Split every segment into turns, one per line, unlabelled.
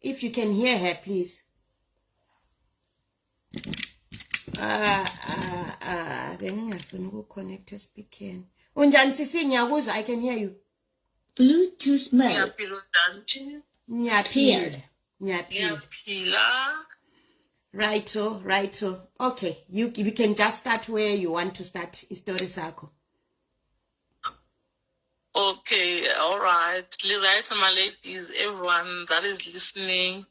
if
you can
hear her please ah ah ah bengingafuni ukuconnect espeakeni unjani sisi ngiyakuzwa i can hear you bluetooth
mode ngiyaphila unjani
ngiyaphila
ngiyaphila
right so
right so okay you you can just start where you want to start istory sakho
Okay, all right. Right, my ladies, everyone that is listening.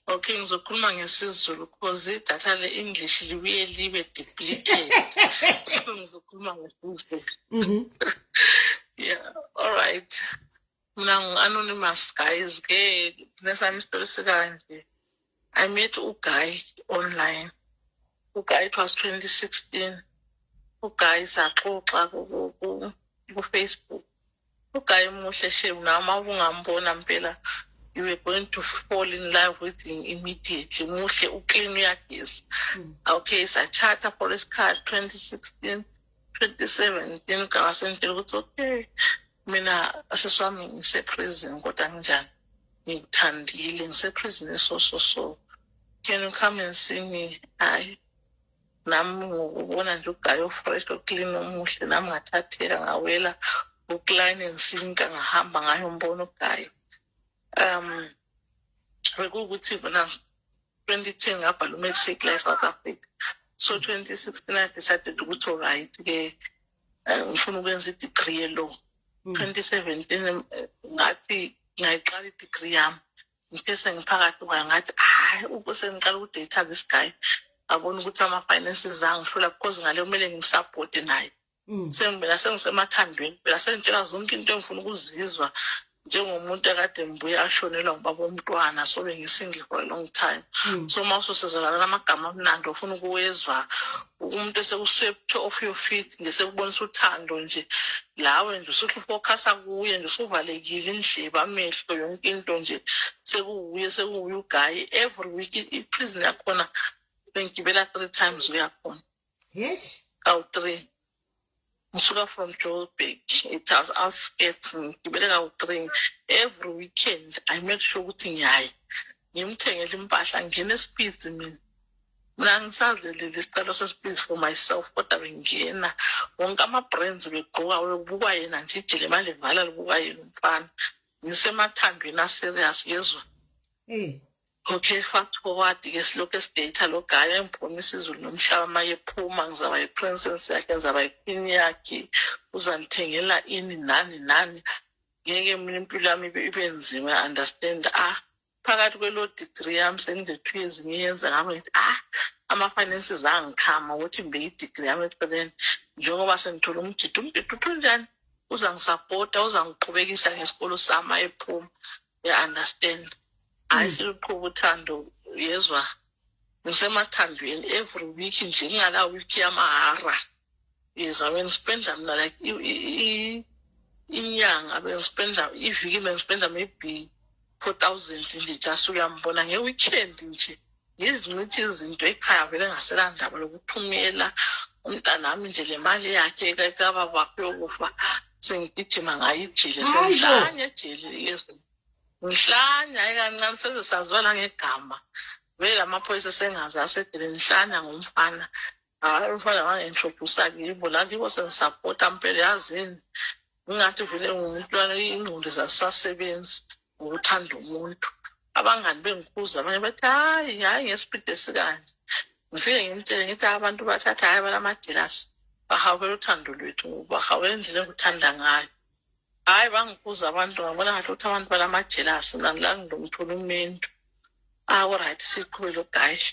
Okay, ngizokhuluma ngesiZulu because idatha le-English libuye libe depleted. so ngizokhuluma ngesiZulu. Mm-hmm. yeah, all right. Mina ngu-anonymous guys ke nesami isitori sikanje. I met u guy online. U guy it was 2016. U guy saxoxa ku ku Facebook. U guy muhle shame nama ungambona mpela you were going to fall in love with him immediately muhle uclean uyageza hmm. okay sachata for isikhathi 2016 2017 ngawasentshela ukuthi okay mina sisi wami ngiseprison kodwa nginjani ngikuthandile ngiseprison so so so can you come and see me hayi nami ngokubona nje ugayi ofresh oclean omuhle nami ngathatheka ngawela ukline and sinka ngahamba ngayo mbona ugayi um bekuwukuthi bona 2010 ngabhala umatric la e-south africa so 2016 i decided ukuthi olright-ke eh, ngifuna ukwenza i-degree ye-law hmm. twenty seventeen eh, ngathi ngayiqala i-degree yami ngithe sengiphakathi kwayo ngathi hayi sengiqala ukudata this guy ngabona ukuthi ama-finances angihlula because ngale kumele ngimsaphote naye Mm. sengibela sengisemathandweni phela sengitshela zonke into engifuna ukuzizwa njengomuntu akade ngibuye ashonelwa ngubaba omntwana so bengisingle for a long time mm. so uma ususizakala namagama amnandi ofuna ukuwezwa umuntu esekuswepthe off your feet ngesekubonisa uthando nje lawe nje usuthi ufocusa kuye nje usuvalekile indleba amehlo yonke into nje sekuwuye sekuwuye ugayi every week iprison yakhona bengigibela three times uyakhona yesh
awu-three
ngisuka from joburg it has outskirts ngigibele kawu-three every weekend i make sure ukuthi ngiyayi ngimthengele impahla ngingena esiphizi mina mina ngisazelile isicelo sesiphizi for myself kodwa bengingena wonke ama-brands begqoka bekubukwa yena nje ijele manje vala libukwa yena umfana ngisemathandweni aserious yezwa um Okay, fact forward ke silokhu esidata lo guy engibonisa izulu nomhlaba uma ephuma ngizaba yi-princess yakhe ngizaba yi-queen yakhe uzangithengela ini nani nani ngeke mina impilo yami ibe ibe nzima understand ah phakathi kwelo degree yami sengizethu ezinye yenza ngami ngithi ah ama-finances angikhama ukuthi ngibe i-degree yami eceleni njengoba sengithola umjidi umjidi uthunjani uzangisapota uzangiqhubekisa ngesikolo sami ayephuma uya-understand hhayi hmm. siluqhuba uthando yezwa ngisemathandweni every week nje ngingala week yamahara yezwa bengispenda mina like inyanga bengispenda iviki bengispenda maybe four thousand nje just uyambona nge-weekend nje ngizincithi izinto ekhaya vele ngaselandaba lokuthumela umntanami nje le mali yakhe kababakhe yokufa sengigijima ngayo ijele sengihlanye ejele yesu ngihlanya ikancane senze saziwa langegama vele amaphoyisa sengazi asedele ngihlanya ngomfana hayi umfana wangenhlobhusa kibo la kibo sengisapota mpela yazini ngingathi vele ngumntwana ingqondo zasasebenzi ngokuthanda umuntu abangani bengikhuza abanye bathi hayi hayi ngesipidi esikanje ngifike ngimtshele ngithi abantu bathatha hayi balamadilasi bahawukela uthando lwethu bahawukela indlela engikuthanda ngayo hayi bangikhuza abantu ngabona ngathi ukuthi abantu balamajelasi nangilanginomthula umentu awuright siqhubele ugayishi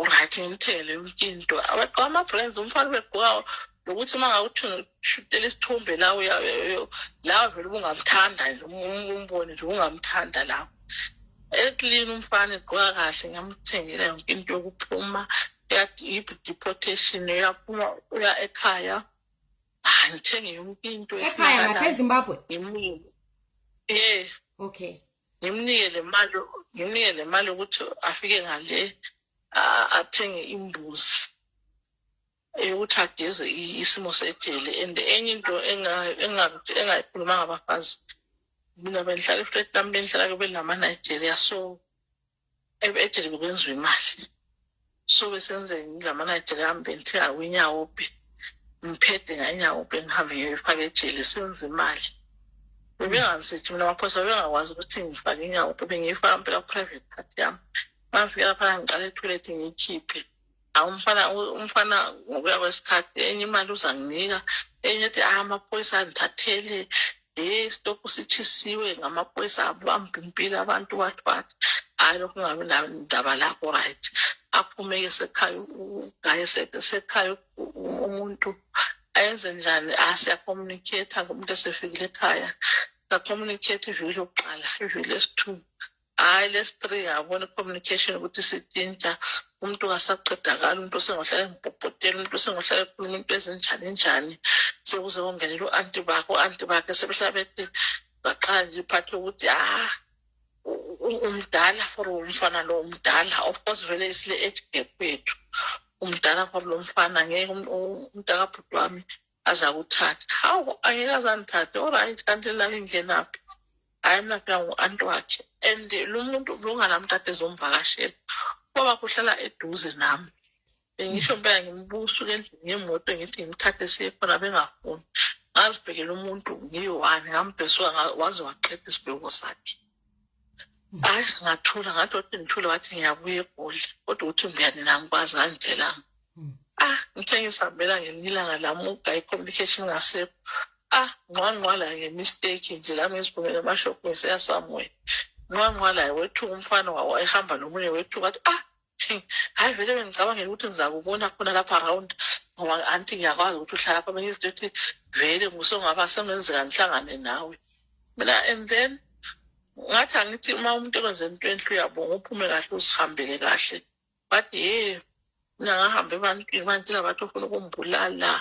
uright ngimthengele yonke into abagqoka ama-brands umfana ubegqoka nokuthi uma ngawushutela isithombe la la vele ubungamthanda nje umbone nje ungamthanda la eklini umfana egqoka kahle ngamthengela yonke into yokuphuma deportation uyaphuma uya ekhaya hayi ngithenge yonke into ekhaya ngapha ezimbabwe
ngimile
ye okay
ngimnike le mali
ngimnike le mali ukuthi afike ngale athenge imbuzi eyokuthi ageze isimo sejele and enye into engayikhulumanga abafazi mina bendihlala iflat lami bendihlala kube lama-nigeria so e- ejele bekwenziwa imali so besenze ngilamanajele ami bengithenga kwinyawo be ngiphethe nganyawo be ngihambe ngiyifaka ejele senze imali bebengangisethi mina amaphoyisa bebengakwazi ukuthi ngifake inyawo be bengiyifaka mpela ku-private part yami mangifika lapha ngiqala ethoyilethi ngiyikhiphe awumfana umfana ngokuya kwesikhathi enye imali uzanginika enye ethi ah amaphoyisa andithathele hey stokhu sitshisiwe ngamaphoyisa abambhumpile abantu wathi wathi hayi lokhu ungabi ndaba lakho right aphumeke sekhaya ugaye sekhaya umuntu ayenze njani asiyacommunicate-a ngomuntu esefikile ekhaya sacommunicate iviki lokuqala iviki lesithuba hayi lesi three yabona i-communication ukuthi sitshintsha umuntu kasaqedakala umuntu osengohlala engibhobhotela umuntu osengohlala ekhuluma into ezinjani njani sekuze kongenela u-anti bakhe u-anti bakhe sebehlala bethi baqala nje iphathi yokuthi ah umdala for umfana lo umdala of course vele isile age gap kwethu umdala for lo mfana ngeke umntakabhuti wami azakuthatha hawu angeke azangithathe oryt kanti lala indlenaphi hhayi mina phela ngu-anti wakhe and lo muntu bekunganami kade ezomvakashela ubaba kuhlala eduze nami bengisho mpela ngimbusa ukendlini ngemoto ngithi ngimthathe siye khona bengafuni ngazibhekela umuntu ngiyi-one ngambhesuka waze waqeda isibheko sakhe hayi ngathula ngathi othi ngithule wathi ngiyabuya egoli kodwa ukuthi ngiyani nangikwazi ngangitshelanga hmm. ah ngithe ngisihambela ngelinye ilanga lami ugayi communication ngasekho ah ngqwangqwala ngemistake nje lami ngizibumele amashop ngiseya somewhere ngqwangqwala wethuka umfana wawo ehamba nomunye wethuka athi ah hayi vele bengicabangela ukuthi ngizakubona khona lapha around ngoba anti ngiyakwazi ukuthi uhlala pha bengizinto ethi vele ngusongaba sengenzeka ngihlangane nawe mina and then ngathi angithi uma umuntu ekwenze into enhle uyabonga uphume kahle uzihambele kahle but ye mina ngahambe ebantwini manje labantu ofuna ukumbulala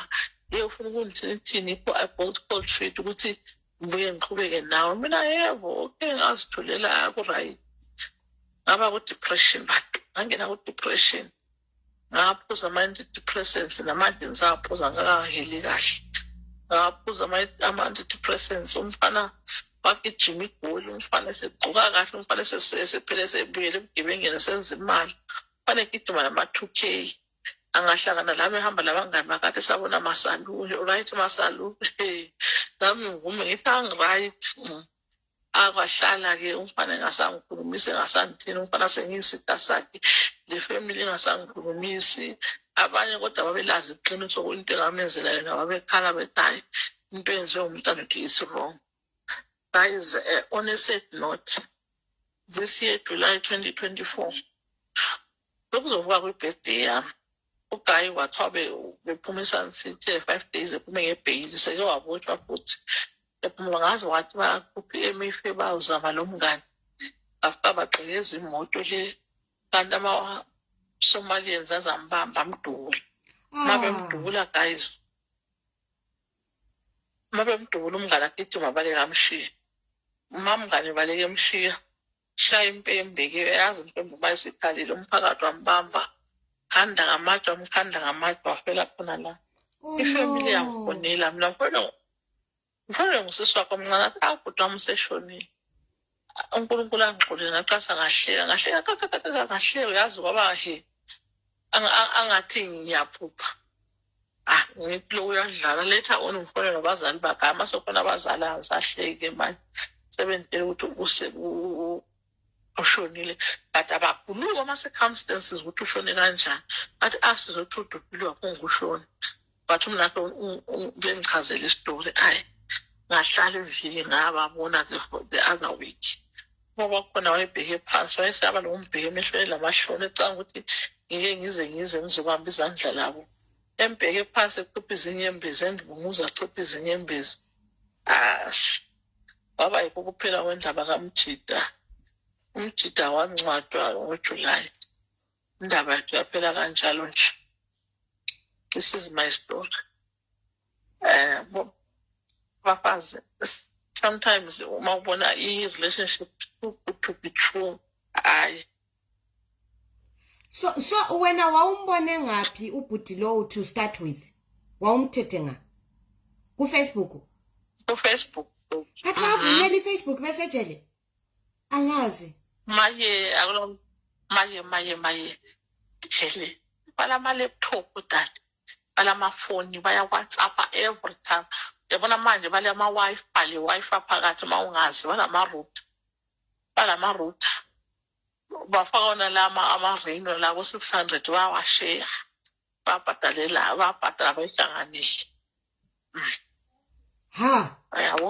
ye ufuna ukundithini ithini i-bolt call street ukuthi ngibuye ngiqhubeke nawo mina yebo oke ngazitholela ku-right ngaba ku-depression bantu ngangena ku-depression ngaphuza ama-antidepressants namanje ngisaphuza ngakaheli kahle ngaphuza ama-antidepressants umfana bagijima igoli umfana esegcuka kahle umfana esephele esebuyele ebugebengeni senza imali umfana egijima nama-two k angahlangana lami ehamba labangani bakade sabona masalule right masalule nami ngivume ngithi angi-right mm. akwahlala-ke umfana engasangikhulumisi engasangithini umfana sengiyisita sakhe le family engasangikhulumisi abanye kodwa babelazi iqiniso into engamenzela yona babekhala bethi hayi into eyenziwe umntana uthi is wrong guys uh, on a sad note this year july 2024 bekuzovuka kwi-birthday yami ugayi wathiwa bephuma esun city five days ephume ngebheyili seke wabotshwa futhi ephumula ngaze wathi bakhuphe emife bawuzama lo mngani after bagqekeza imoto le kanti ama-somalians azambamba amdubule ah. mabemdubula guys uma bemdubula umngane agijima baleke amshiye uma mngane baleke emshiya shaya impembe ke yazi impembe uma isikhalile umphakathi wambamba khanda ngamatshe wamkhanda ngamatshe wafela khona la oh, ifamily yamfonela mina mfana mfana ngusisi wakho mncane athi awubhuti wami useshonile unkulunkulu angixolele ngaqasa ngahleka ngahleka kakakaka ngahleka uyazi kwaba he Ang- ang- angathi ngiyaphupha ah ngithi lo uyadlala later on ngifonela abazali bakhe hhayi masekhona abazali angisahleki manje sebengitshela ukuthi use- u- u- ushonile but abaguluki ama-circumstances ukuthi ushone kanjani bathi asizothi udubhile wakho ngushoni but umnakhe bengichazela isitori ayi ngahlala iviki ngababona the other week ngoba khona wayebheke phansi wayesaba nokumbheka emehlweni lamahloni ecanga ukuthi ngike ngize ngize ngizobamba izandla labo embheke phansi ecipha izinyembezi endunguza acipha izinyembezi ash waba yikho kuphela kwendaba kamjida umjida wancwadwa ngojulayi indaba yakhe yaphela kanjalo nje this is my story um uh, bafazi sometimes uma ubona i-relationship too good to be true hayi
so so wena wawumbone ngaphi ubhuti lowo to start with wawumthethe nga kufacebook
kufacebook kati
wavumela ifacebook mesejele angazi maye
akulo maye maye maye jele balama laptop dade balamafoni baya-whatsapp every time yabona manje balama-wifi le-wifi phakathi uma ungazi balama-router balama-router bafaka wona lama amareno la ko-six hundred bayawasheya babhadalela babhadala bayihlanganise
ha yabo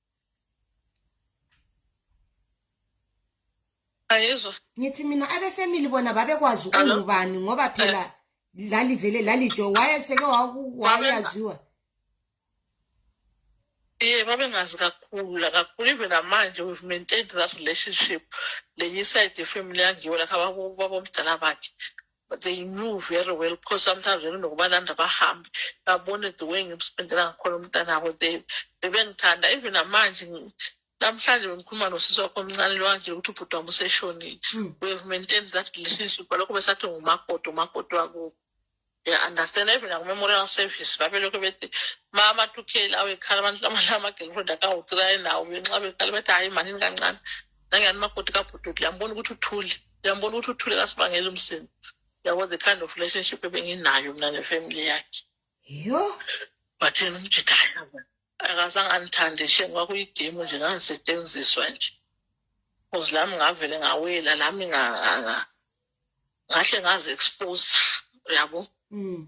ayizwa ngithi mina
abefamily bona babekwazi ukungubani ngoba phela eh. lalivele lalijo wayeseke wayaziwa
ye babengazi kakhulu lakakhulu even namanje we've maintained that relationship lenye iside yefamily yangiwo lakho babomdala bakhe but they knew very well because sometimes benokubalanda bahambe babone the way ngimspendela ngakhona umntanabo they bebengithanda even namanje namhlanje bengikhuluma nosisi wakho omncane lwanje ukuthi ubhuti wami useshonile hmm. we have maintained that relationship balokho besathi ngumakoti umakoti wakubo ngiya-understand even naku-memorial service babelokhu bethi ma amathukeli awekhala abantu amanye ama-girlfriend akawutsikaye nawo benxa bekhala bethi hhayi manini kancane nangiyani umakoti kabhududu yambona ukuthi uthule uyambona ukuthi uthule kasibangela umsindo yabo the kind of relationship ebenginayo mna nefamily yakhe yho
but yena
umjidayo akazange andithande shem kwakuyigemu nje ngangisetshenziswa nje cause lami ngavele ngawela lami ngahle ngazi-expose uyabo mm.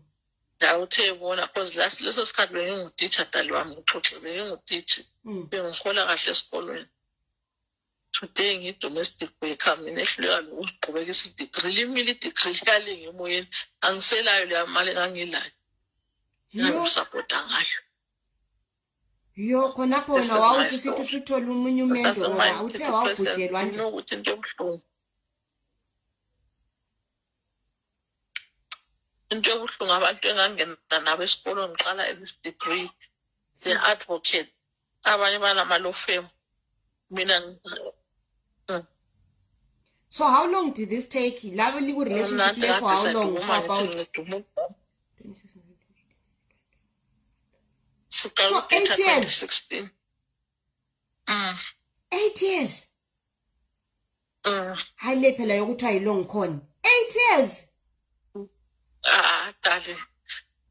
ndawuthe bona cause last leso sikhathi bengingutitsha dali wami ngixoxe bengingutitsha mm. bengihola kahle esikolweni today ngiyi-domestic worker mina ehluleka nokuziqhubeka isidigri limile idigri liyalinga emoyeni angiselayo leya mali engangilayo engangisapota ngayo
yo khonapho wena wawusisithi usithole omunye umendo uthe wawubhujelwa nje ukuthi into ebuhlungu
into yobuhlungu abantu engangena nabo esikolweni ngiqala this degree the advocate abanye banama-law firm mina mm.
so how long did this take labo liku-relationship le for how long for about so eight years
Mm.
eight years Mm. hayi le phela yokuthiwa yi-long con eight years Ah,
dali.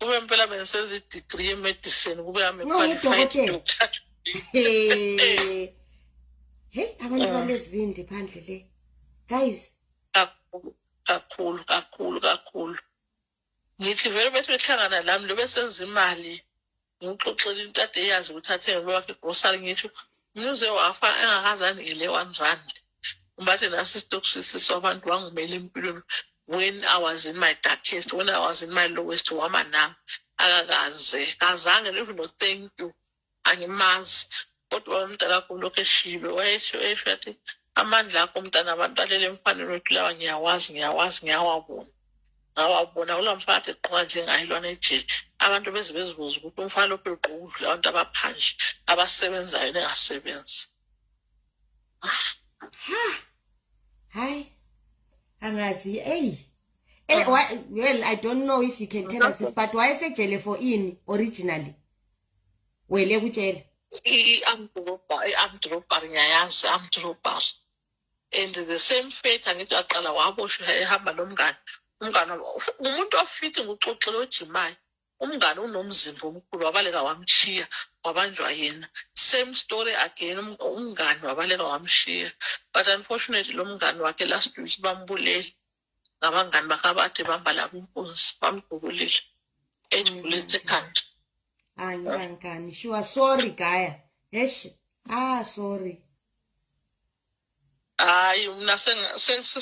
Kube impela bengisenza i-degree ye-medicine, kube I'm a No, qualified ngudokotela. doctor.
Hey. Hey, abantu balezibindi phandle le. Guys, Kakhulu, kakhulu,
kakhulu, kakhulu. ngithi vele bethi behlangana lami lo besenza imali ngikuxoxela into ade eyazi ukuthi athenge lo wakhe igrosari ngisho mnuze wafa engakazani ngile one rand ubathe nasi isitokufisi sabantu wangumela empilweni when i was in my darkest when i was in my lowest wama nami akakaze kazange even no thank you angimazi kodwa wayemdala kakhulu lokhu eshibe wayesho esho athi amandla akho mntana abantu alele emfaneni wethu lawa ngiyawazi ngiyawazi ngiyawabona ngawabona kula mfana ade gqoka njengaye lwana ejele abantu beze bezibuza ukuthi umfana lokhu egqoka udlula abantu abaphandle abasebenzayo nengasebenzi
hayi angazi eyi Eh, well, I don't know if you can tell us this, but why is it jelly for in originally? wele kutshela
i-amdrobar i-amdrobar ngiyayazi amdrobar and the same fate angithi waqala waboshwa ehamba nomngane umngane ngumuntu ofiti nguxoxile ojimayo umngane unomzimba omkhulu wabaleka wamshiya wabanjwa yena same story again um, umngane wabaleka wamshiya but unfortunately lo mngane wakhe last week bambulele ngabangani bakhe abathi bamba labo inkunzi bamdubulile ejibulise ekhanda
angikangani shuwa sorry
gaya hesh ah sorry hayi mna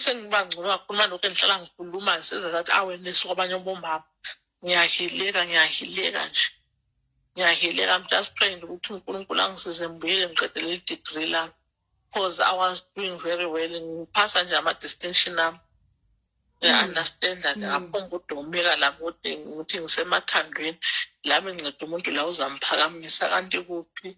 sengibangcono kakhulu malokhu endihlala ngikhuluma ngisenza that awareness kwabanye bomama ngiyahileka ngiyahileka nje ngiyahileka i'm just praying ukuthi unkulunkulu angisize mbuyele ngiqedele i-degree lami because i was doing very well ngiphasa nje ama-distinction ami ngiya-understanda mm. ngingaphuma ukudomeka lakude ngithi ngisemathandweni lami nceda umuntu la uzamphakamisa kanti kuphi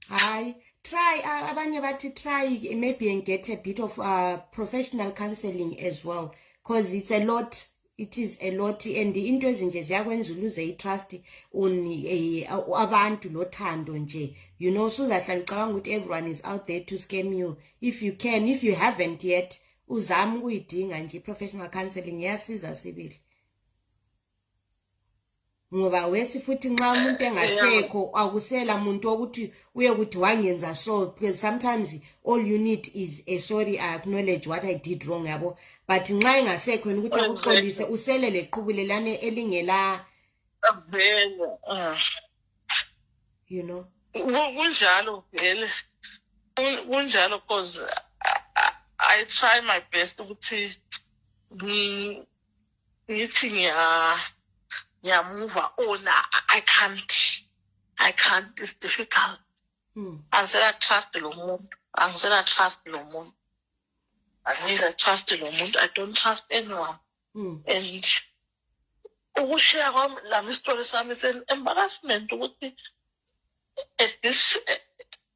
hayi try abanye bathi try maybe and get a bit of uh, professional counseling as well because it's a lot it is a lot and into ezinje ziyakwenza uluze itrust on eh, abantu lothando nje you know suzahlala ucabanga ukuthi everyone is out there to scam you if you can if you haven't yet uzama ukuyidinga nje professional counseling iyasiza sibili ngoba wesi futhi nxa umuntu engasekho akusela muntu okuthi uye kuthi wangenza so because sometimes all you need is a sorry i acknowledge what i did wrong yabo but nxa engasekho yena ukuthi akuxolise usele leqhubulelane elingela ah. you know kunjalo
vele kunjalo cause i try my best ukuthi ngithi ngiya ngiyamuva ona i can't i can't it's difficult mm. angisela trust lo muntu angisela trust lo muntu angisela trust lo muntu i don't trust anyone mm. and ukushiya kwami lami isitori sami embarrassment ukuthi at this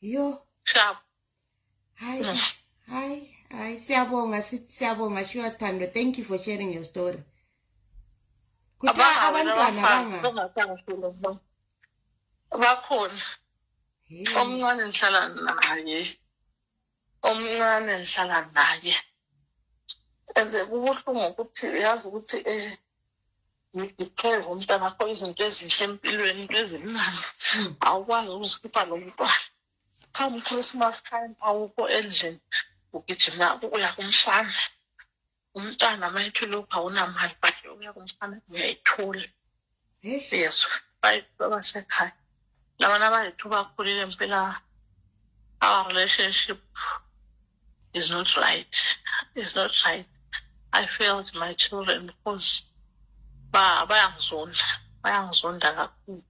yo sharp
hayi mm.
hayi hayi siyabonga siyabonga shiwa sithando thank you for sharing your story kuthiwa abantwana banga
bakhona omncane ngihlala naye omncane ngihlala naye and kubuhlungu ukuthi uyazi ukuthi um ngidiphere umntwana kho izinto ezinhle empilweni into ezimnandi hmm. awukwazi ukuzikhipha lo mntwana come christmas time awukho endlini ugijima uya kumfana umntana uma ethule ukuthi awunamali but uya kumfana uyayithula yezwa bayithuba basekhaya labana abayithuba akhulile mpela our relationship is not right is not right i failed my children because bayangizonda bayangizonda kakhulu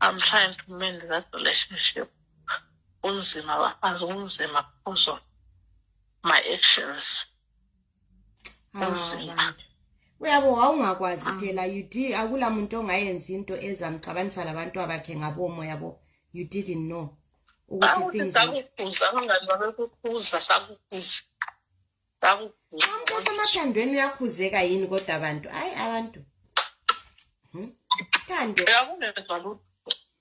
i'm trying to mend that relationship kunzima bafazi kunzima because of my actions kunzima uyabo
wawungakwazi ah. phela you did akula muntu ongayenza into ezamxabanisa labantu abakhe ngabomo yabo you didn't know ukuthi things sakukhuza abangani babekukhuza sakukhuza sakukhuza amkhosi amathandweni uyakhuzeka yini kodwa abantu hayi abantu hmm? thando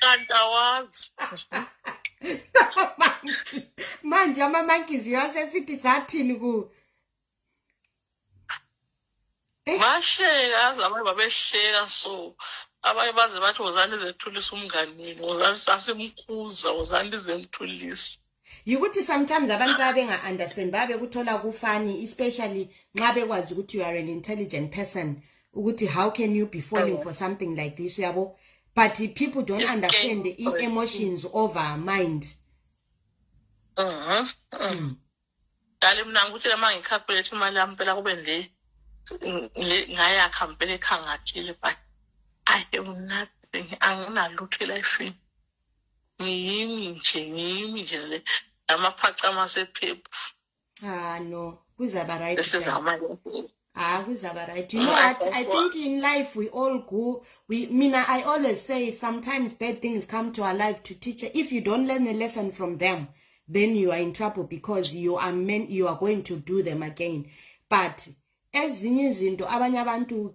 kanti
awazi
manje amamankizi yasesithi sathini ku
bahleka aze abanye babehleka so abanye baze bathi wozani izethulisa umngani wenu wozani sasimkhuza wozani izemthulisa yikuthi
sometimes abantu baya benga-understand baya bekuthola kufani especially nxa bekwazi ukuthi you are an intelligent person ukuthi how can you be falling for something like this uyabo but people don't understand i-emotions over mind
dali mm. mna ngikuthi lama ngikhalkulate imali yami mpela kube nje ngayakha mpela ekhangathile but i am nothing anginalutho elifini ngiyimi nje ngiyimi nje le amaphacama sephephu ah no
kuzaba right sizama
ah kuzaba
right you know what i think in life we all go we mina i always say sometimes bad things come to our life to teach if you don't learn a lesson from them then you are in trouble because you are meant you are going to do them again but ezinye izinto abanye abantu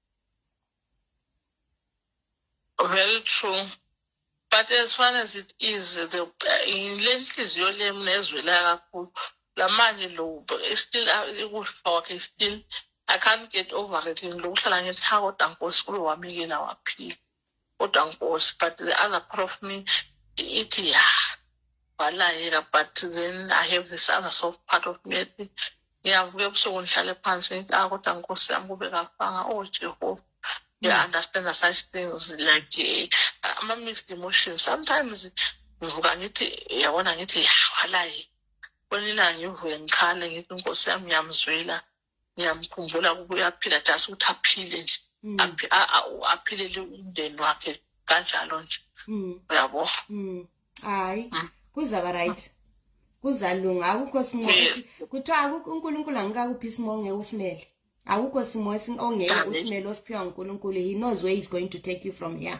very true but as far as it is the le nhliziyo lemi nezwela kakhulu lamanje lo still ukufa kwakhe still i can't get over it lokuhlala ngithi hakoda nkosi kulo wamikela waphila kodwa nkosi but the other part of me ithi ya walayeka but then i have this other soft part of me ethi ngiyavuka ebusuku ngihlale phansi ngithi ah kodwa nkosi yami kube kafanga oh jehova you mm. understand such things like uh, ama-mixed emotions sometimes ngivuka ngithi yabona ngithi ya walayeka kwenye ilanga ngivuke ngikhale ngithi inkosi yami ngiyamzwela ngiyamkhumbula ukuba uyaphila just ukuthi aphile nje mm. aphilele umndeni wakhe kanjalo nje mm. uyabo mm.
hayi kuzaba right kuzalunga akukho simo kuthiwa unkulunkulu angikakuphi isimo ongeke usimele akukho simo ongeke usimele osiphiwa ngunkulunkulu he knows where he's going to take you from here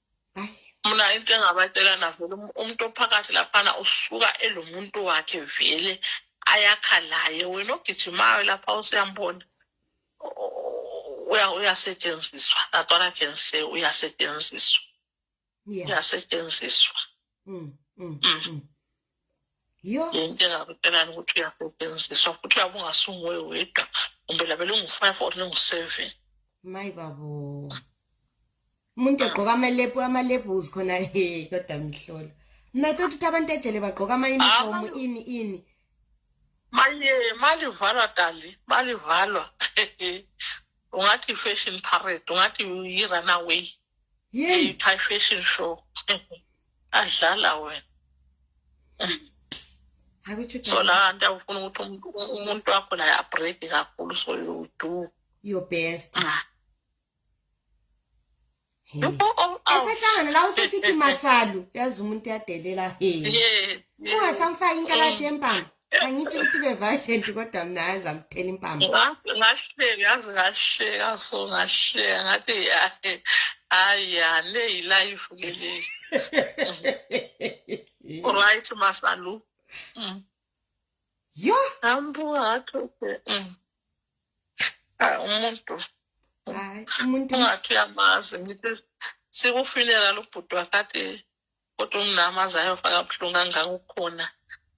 mna into engabatshela navele um-, umuntu ophakathi laphana usuka elo muntu wakhe vele ayakha laye wena ogijimayo lapha usuyambona uyasetshenziswa that what i can say uyasetshenziswa uyasetshenziswa mm, mm, mm.
yonke into engakutshelani
ukuthi uyasetshenziswa futhi uyabe ungasunguwe wedwa kumbe labe lungu-five or lungu-seven mayi babo
umuntu ogqoka amalepu amalebus khona he kodwa mhlolo mna thothi ukuthi abantu ejele bagqoka ama-uniform ini ini maye
malivalwa dali malivalwa ungathi i-fashion parade ungathi yi-runaway Yey. High fashion show. Adlala wena. So la nto ufuna ukuthi umuntu wakho la ya break kakhulu so you do your best.
Ah. esehlangana la usesithi masalu yazi umuntu yadelela he ungasamfaki inkalathi yempama angitsho ukuthi beviolent kodwa mna yazi angithela impambo ngahleka yazi ngahleka so ngahleka
ngathi yahe hayi ya le yilife ke le right masalu mm.
yo ambuka ngathi
okay mm. ah, umuntu hayi umuntu ungathi uyamazi ngithi sikufinela lubhuti wakade kodwa umnami aze ayofaka buhlungu kangaka ukhona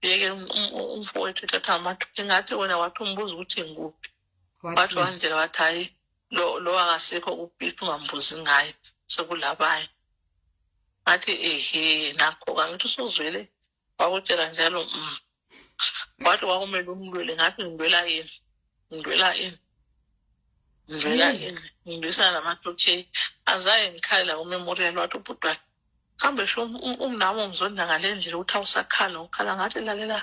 yeke um, um, um, umfowethu ethatha amathi ingathi wena wathi umbuza ukuthi ngikuphi wathi wandlela wathi hhayi lo lo akasekho kuphithi ungambuzi ngaye sekulabaye ngathi ehe nakho-ka ngithi usuzwele wakutshela njalo um wathi kwakumele umlwele ngathi ngilwela yini ngilwela yini ngilwela yini ngilwisana namathotsheni azaye ngikhalela kumemorial wathi ubhuti wakhe kambe sho umnami ungizonda ngale ndlela ukuthi awusakhala ukhala ngathi lalela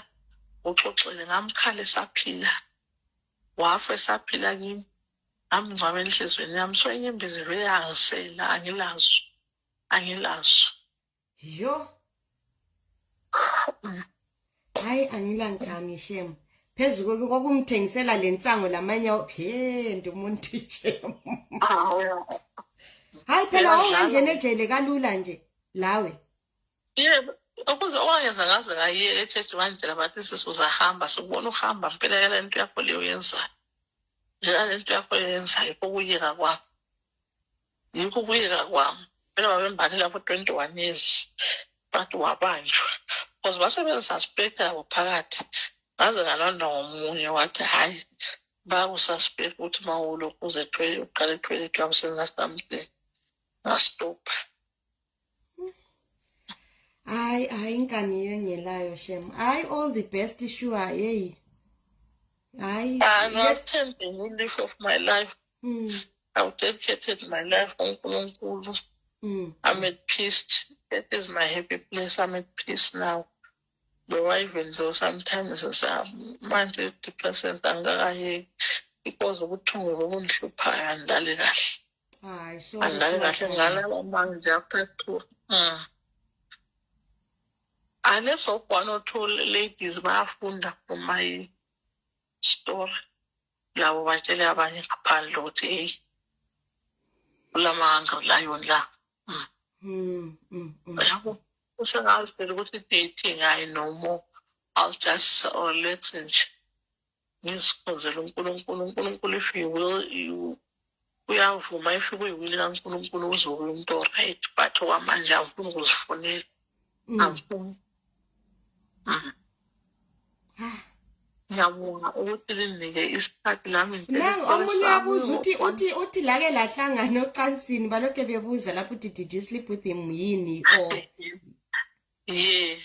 uxoxele ngamkhala esaphila wafa esaphila kimi amngcwaba enhliziyweni yami so inyembezi vele angisela angilazo angilazo Yo.
Hayi angilangami shem. Phezu kokuthi kwakumthengisela lensango lamanye phende umuntu shem. Hayi phela ungangena ejele kalula nje lawe.
Yebo. ukuze owayenza ngaze ngayiye echechi wandlela bathi sisi uzahamba sikubona uhamba mpela yala nto yakho leyo yenzayo yala nto yakho yenzayo kokuyeka kwakho yikho ukuyeka kwami phela babembathe lapho twenty one years but wabanjwa because basebengisaspekta labo phakathi ngaze ngalondwa ngomunye wathi hhayi bakusaspekta ukuthi uma ulokhu uze uqale ethwele kuyawusenza something ngastopha
hayi hayi inkani yengelayo shem hayi all the best sure yeyi hayi angathembi
ngilife of my life mm. i've dedicated my life kunkulunkulu mm. i'm at peace that is my happy place i'm at peace now Bewayivenzo sometimes manje depresses angikakayeki because ubuthungu bobundihluphayo andidlali kahle hayi so
andidlali kahle ngalala
manje after two mm. unless of one or two ladies bayafunda from my story labo batshele abanye ngaphandle ukuthi eyi kulamanga layoni la mm. mm, mm, mm. yabo usengazi phela ukuthi dating ayi no more i'll just or oh, let's nje ngizikhonzela unkulunkulu unkulunkulu if you will you uyavuma if kuyiwili kankulunkulu uzokuya umuntu oright but okwamanje angifuni ukuzifunela mm. angifuni mm. ah. ngiyabonga ukuthi linike isikhathi lami omunye abuza
uthi uthi uthi lake lahlangana ocansini balokhe bebuza lapho uthi did you sleep with him yini or yes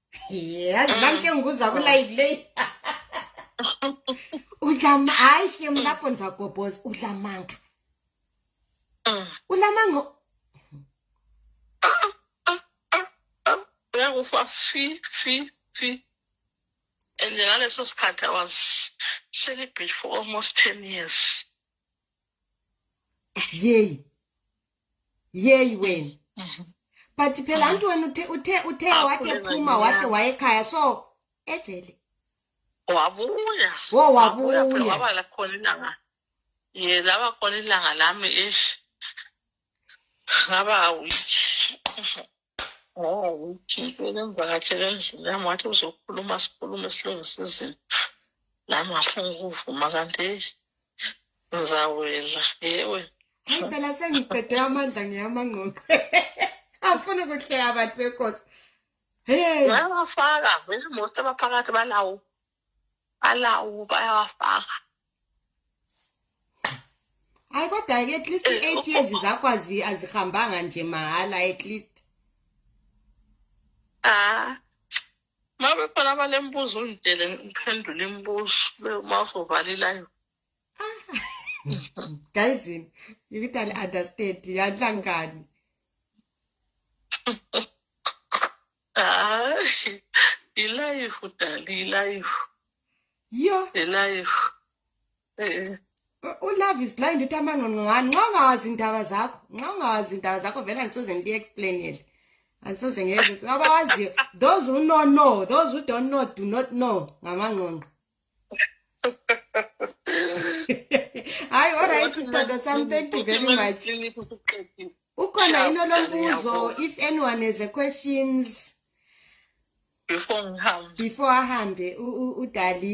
yazi nami ke ngikuzwa kulive le udlama hayi shem lapho nizagobhoza udlamanga mm. ulamanga
uyakufa fi fi fi and ngaleso sikhathi i was celibate for almost ten years
yeyi yeyi wena mhm. but phela ah. antoni uthe uthe uthe ah, wake phuma wake wayekhaya so ejele
wabuya wo wabuya waba la khona ilanga ye laba khona ilanga lami ish ngaba awuyi ngokuthi bebemvakatshele endlini yami wathi uzokhuluma sikhulume silungise izinto nami ngafuna ukuvuma kanti eyi ngizawela yewe Hayi phela
sengiqede amandla ngiyamangqoqe. Afuna ukuhleka abantu benkosi. Hey, Ngiyabafaka
vele imoto abaphakathi balawo balawo bayawafaka
hayi kodwa ke at least i-eight years zakho azi- azihambanga nje mahhala at least Ah.
Uma bekhona abalembuzo ungidele ngiphendule imibuzo be- uma uzovala ilayo.
guys yini ukuthi ali-understand yanhlangani
hayi ilayifu dali ilayifu yo
ilayifu eh ulove is blind uthi amangqongqongane nxa ungawazi indaba zakho nxa ungawazi indaba zakho vele angisoze ngibi-explainele angisoze ngeke abawaziyo those who know know those who don't know do not know ngamangqongqo hayi olright sithando sami thank you very much ukhona yini olombuzo if anyone has a questions before ngihambe before ahambe udali